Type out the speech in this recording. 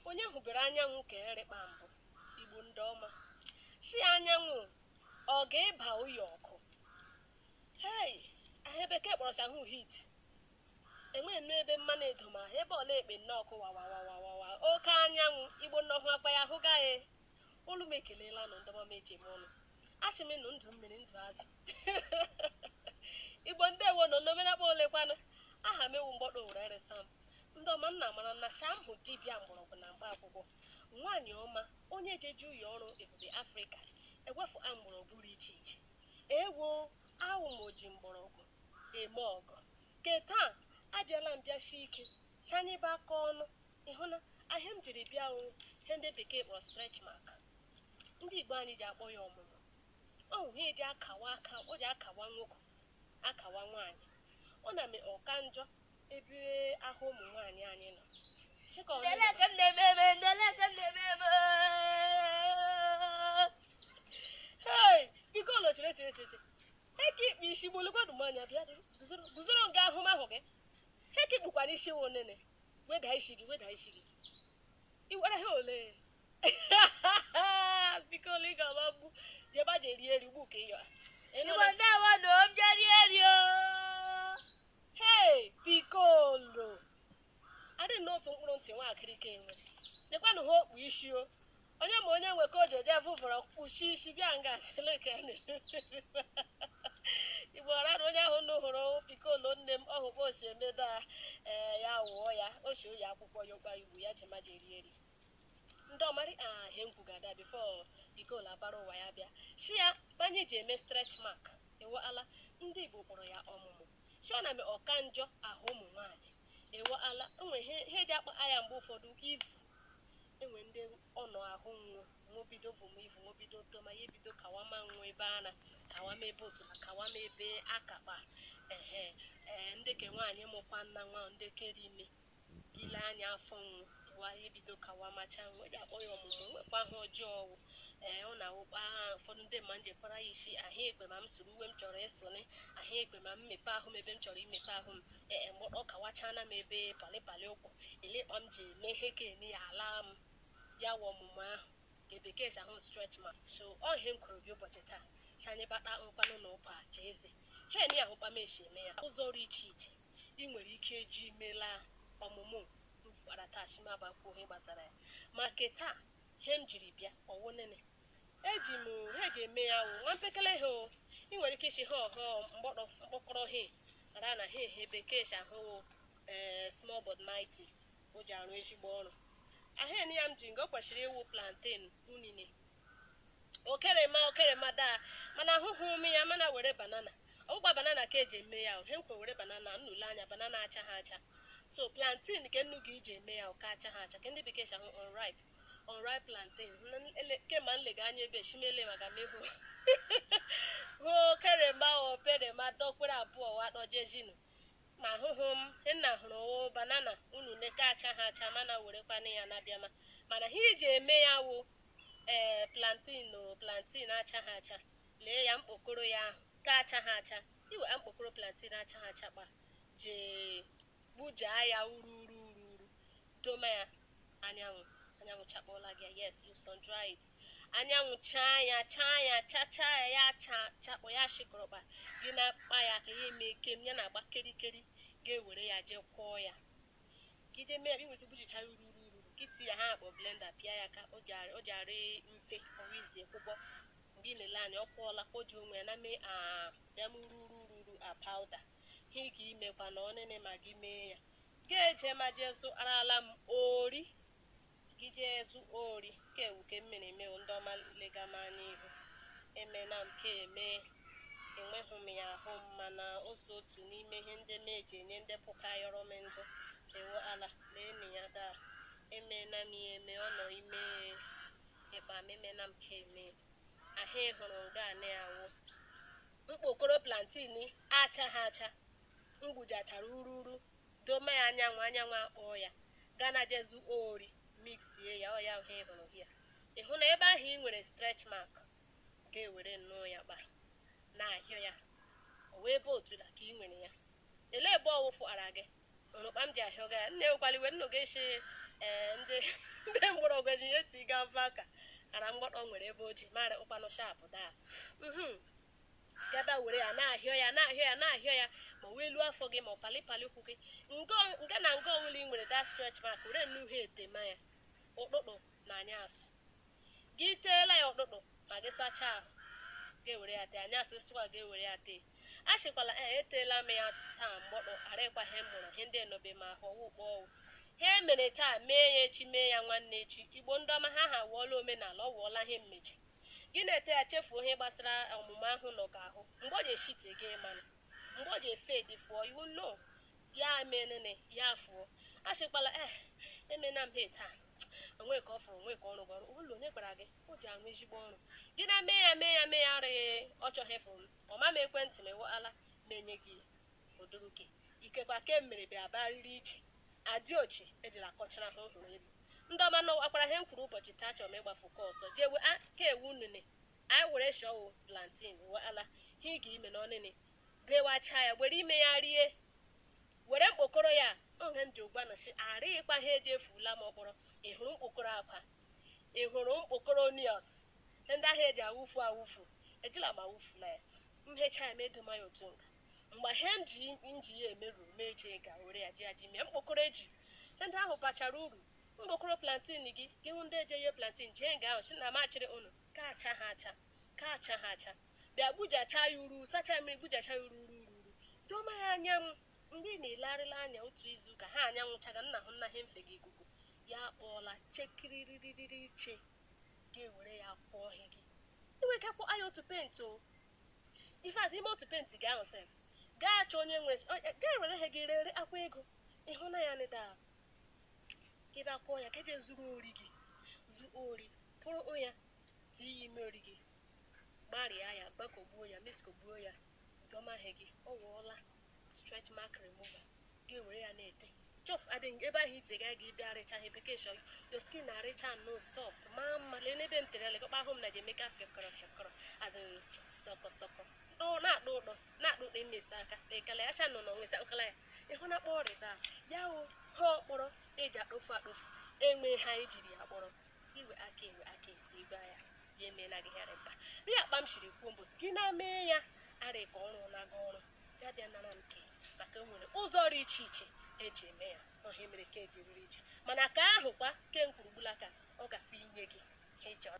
onye hụbere anyanwụ ka erịkpa mbụ igbo ndị ọma si anyanwụ ọ ga-eba ụyọ ọkụ hei ihe bekee kpọrọcha hụ heat Enwe nnọọ ebe mmanụ edo ma ebe ọla ekpe nnọọ ọkụ wawawawawawa, oke anyanwụ, Igbo nnọọ hụ akwa ya hụga e. Olu m ekelela nụ ndị ọma m eji eme ọnụ. Asị m nụ ndụ mmiri ndụ azụ. Igbo ndewo nụ unu emena kpa ole kwanụ. Aha m ewu mgbọtọ Owere eresa m. Ndị ọma nna mara na sh'awụ m dibịa mgbọrọgwụ na mkpa akwụkwọ. Nwaanyị ọma onye ji eji ụyọ ọrụ ebube Afrịka ewefu a mgbọrọgwụ dị iche iche. Ewo awụ m oji mgbọrọgwụ. eme ọgọ. Ke taa, a bịala m bịa shie ike, sh'anyị bakọọ ọnụ. Ị hụ na ihe m jiri bịa wụ ihe ndị Bekee kpọrọ stretch mark. Ndị Igbo anyị ji akpọ ya ọmụmụ. Ọ wụ ihe e ji akawa aka, o ji akawa nwoke, akawa nwaanyị. Ọ na-eme ọ ka njọ, Ebe ahụ ụmụ nwaanyị anyị nọ. Hey, Pikolo chere chere chere chere. Heki ikpe isi gbolu gwadu m anya bịa dịrị. Guzoro guzoro nga ahụ m hụ gị. Heki kpukwana isi wụ nene. Weda isi gị, weda isi gị. I were ha ole? Pikolo ị ga-agba mgbu. Jeba je rie eri ugbu ka ị yọrọ. Ị nụrụ? Igbo ndewo na omjeri eri o. Hei! Pikolo! Adị nnọọ otu mkpụrụ ntị nwa akịrịka enwe. Lekwanụ ihe o kpu isi o. Onye ma onye nwe ka o ji eje vụvọrọ kpuchie isi bịa nga chele ka a na-eme. Igbo ọra na onye ahụ nụ hụrụ Pikolo nne m ọ hụkwa osi emeda ee ya wụọ ya o si oyi akwụkwọ ya ụkpa igbu ya jema ji eri eri. ndị ọmarị ihe m kwugada before Pikolo abara ụwa ya bịa shi ya ma ihe ji eme stretch mark Ewo ala, ndị Igbo kpọrọ ya ọmụmụ. Shi ọ na-eme ọka njọ ahụ ụmụ nwaanyị. Ewo ala, enwe ihe ji akpa ya mgbe ụfọdụ ivu. Enwe ndị ọ nọ ahụ nwụọ, nwụọ bido vuma ivu, nwụọ bido toma, ya ebido kawama nwụọ ebe ara, kawama ebe otula, kawama ebe akakpa. Ehe, ee, ndị ke nwaanyị mụkwana nwa, ndị ke rị ime, ile anya afọ nwụ ewa ebido kawamacha nwụ eji akpọ ya ọmụmụ nwekwa ahụ ọjọọ ọwụ ee ọ na-awụkpa ha ụfọdụ ndị mma nje para ya isi ahụ ekpe ma m soro uwe m chọrọ ịsụnị ahụ ekpe ma m mepe ahụ m ebe m chọrọ imepe ahụ m ee e, mgbọtọ kawachana m ebe palịpalị ụkwụ ele kpa m ji eme ihe ka eni ya ala m ya wụ ọmụmụ ahụ nke bekee si ahụ stretch mark so ọ ihe m kwuru bịa ụbọchị taa si anyị bata nkwanụ na ụkwa aja eze ha eni ahụ kpa m esi eme ya ụzọ ọrụ iche iche i nwere ike iji melaa ọmụmụ m fara taa si m aba kwuo ihe gbasara ya. Ma ke taa, ihe m jiri bịa ọ wụ nịnị? Eji m ihe eji eme ya wụ nwa mpekele ihe o. I nwere ike ịsị họọ họọ mkpokoro ihe mara na ha ihe bekee si ahụ wụ ee small but mighty o ji arụ ezigbo ọrụ. Ahịa ya m ji nga o kwesịrị ịwụ plantain unine okerema okerema daa mana ahụhụ m ya mana were banana ọ bụkwa banana ka eji eme ya he nkwe were banana nnu lee anya banana acha ha acha so plantain ka nnu ga iji eme ya ke acha ha acha ke ndị bekee si ahụ unripe unripe plantain kemgbe m lega anya ebe shimele maka m ahụ okerema okerema dọkwere abụọ wa dọjejinu ma ahụhụ m nna hụrụ wụ banana unu neke acha ha acha mana werekwana ya na-abịama mana he eji eme ya wụ Ee, plantain o, plantain achaghị acha. Lee ya, mkpokoro ya ahụ, nke achaghị acha. I were mkpokoro plantain achaghị acha kpa jee, gbujaa ya uru uru uru uru, doma ya anyanwụ, anyanwụ chakpọọla gị ya, yes, you sun dry it. Anyanwụ chaa ya, chaa ya, chachaa ya, ya achakpọọ, ya shịkọrọkpa, gị na-akpa ya ka ya emee kem, ya na-agba kerikeri, ga-ewere ya jee kwọọ ya. gị jee mee ya ị nwere ike gbujicha ya uru uru uru gị itie ya he a kpọ blender pịa ya ka o ji arị mfe ọ wụ easy ọkwụkwọ mgbe ị na-ele anya ọ kwọọla ka o ji onwe ya na mee a bịa mee uru uru uru uru a powder he ị ga-imekwa na ọ nịnị ma gị mee ya ga-eje ma jee zụarala m ori Gị jee zụ ori ke a wụ ke m mere eme o ndị ọma lega m anya ihu emena m ke a eme enweghị m ya ahụ m mana o so otu n'ime ihe ndị m eji enye ndị pụkayọrọ m ndụ ewo ala leenu ya daa emena m ya eme ọ nọ ime ịkpa m emena m ke a eme ahụ ị hụrụ nga anị awụ mkpokoro plantain achaghị acha m gbujichara uru uru Doma ya anyanwụ, anyanwụ akpọọ ya. Ga na jee zụọ ori, mixie ya, ọ ya ihe ị hụrụ here. Ị hụ na ebe ahụ i nwere stretch mark, ga ewere nnọọ ya kpa na-ahịọ ya. Ọ wụ ebe otula ka i nwere ya. Ele ebe ọ wụfụ ara gị? Unu kpa m ji ahịọga ya. Nna ewekwala iwe, nnu ga-ashị ee ndị ndị mgbọrọgwụ eji ya eti ga mfa ka ara mgbọtọ nwere ebe o ji mara ụkpanụ sharp daa. Mhm. Gaba were ya na-ahịọ ya na-ahịọ ya na-ahịọ ya ma ọ wụ elu afọ gị ma ọ palịpalị ụkwụ gị nga nga na nga ọbụla ị nwere that stretch mark were nnọọ he a tema ya ụtụtụ na anyasị gị teela ya ụtụtụ ma gị sachaa ahụ ga-ewere ya tee anyasị gị sakwaa ga-ewere ya tee asịkwala ee eteela m ya taa mgbọtọ arakwa ihe m hụrụ ihe ndị enobe ma ahụ ọwụ ụkpọ ọ wụ he e mere taa mee ya echi mee ya nwanne echi igbo ndị ọma ha ha wụọla omenala ọ wụọla ihe mmechi Gị na-ete ya chefuo ihe gbasara ọmụmụ ahụ nọ gị ahụ. Mgbe o ji eshite gị ịmanụ. Mgbe o ji efedi fụọ you will know. Ya mee nịnị, ya afụọ. Asịkwala eh emena m he taa. O nwe ka ọ fụrụ, o nwe ka ọ rụ gị ọrụ. Ụlọ onye gwara gị? O ji arụ ezigbo ọrụ. Gị na mee ya mee ya mee ya rịị ọ chọghị ịfụ m. Ọ ma m ekwentị m ịwụala m enye gị oduruke. Ikekwa ke m mere bịara barịrị iche. Adiochi ejila akọchara ha hụrụ elu. Ndị ọma nọọ, akwara he m kwuru ụbọchị taa achọrọ m ịgbafu kọ ọsọ jee we a ka ewu unene anyị were shọ o plantain we ala he iga ime n'ọnịnị bewacha ya were ime ya rie were mkpokoro ya ọ he ndị ụgwa nọshị arịị kwa he eje efuula ma ọ kpọrọ ị hụrụ mkpokoro akwa ị hụrụ mkpokoro onions ndị ahụ eji awụfu awụfu ejila m awụfula ya m hecha ya m edoma ya otu nga Mgbe ihe m ji m ji ya eme ruru m eje ga were ya ji ya ji mee mkpokoro eji. Ihe ndị ahụ bachara uru. Mkpokoro plantain gị, gị hụ ndị eje ye plantain jee nga ahụ sị na m achịrị unu ka acha ha acha, ka acha ha acha. Bịa gbujachaa ya uru, sachaa ya mmiri gbujachaa ya uru uru uru uru. Doma ya anyanwụ. Mgbe ị na-elegharịla anya otu izu ụka, ha anyanwụ chaga, nna hụ nna ha mfe gị ikuku. Ya akpọọla chekiririririri che. Gị ewere ya kwọọ ihe gị. I nwere ike kwọọ ya otu paint o. In fact, ime otu penti gị ahụ sef, gaa achọ onye nwere gaa were ihe gị rere akwa ego ịhụ na ya nịda ahụ ka ị bịa kwọọ ya ka eje zụrụ ori gị zụ ori pụrụ ya tinye ya ime ori gị gbarịa ya gbakọgbuo ya mixkọgbuo ya doma ihe gị ọ wụọla stretch mark remover ga-ewere ya na-ete jọf adịghị ebe ahụ ite ga gị bịa rịcha ihe bekee shọ your skin na-arịcha nnọọ soft maa mma lee n'ebe m tere ya lekọkpa ahụ m na ga-emeka fịọkọrọ fịọkọrọ azị sọkọ sọkọ dụ na-akpụ ụdọ na-akpụ ụdọ emesi aka tekala ya shanụ na onwesa nkala ya ịhụ na kpọọ rịta ya o ha ọkpọrọ eji akpofu akpofu enwe ha ejiri ya kpọrọ iwe aka iwe aka eti igwe ya ya emeela gị ya rịba ri akpa m shiri kwuo mbosi gị na-emee ya arị ka ọ rụna gị ọrụ ya bịa nara nke maka enwere ụzọ dị iche iche eji eme ya ọ he mere ke eji rịrị iche mana ka ahụkwa ke m kwuru ugbula ka ọ gakwa inye gị ihe ị chọrọ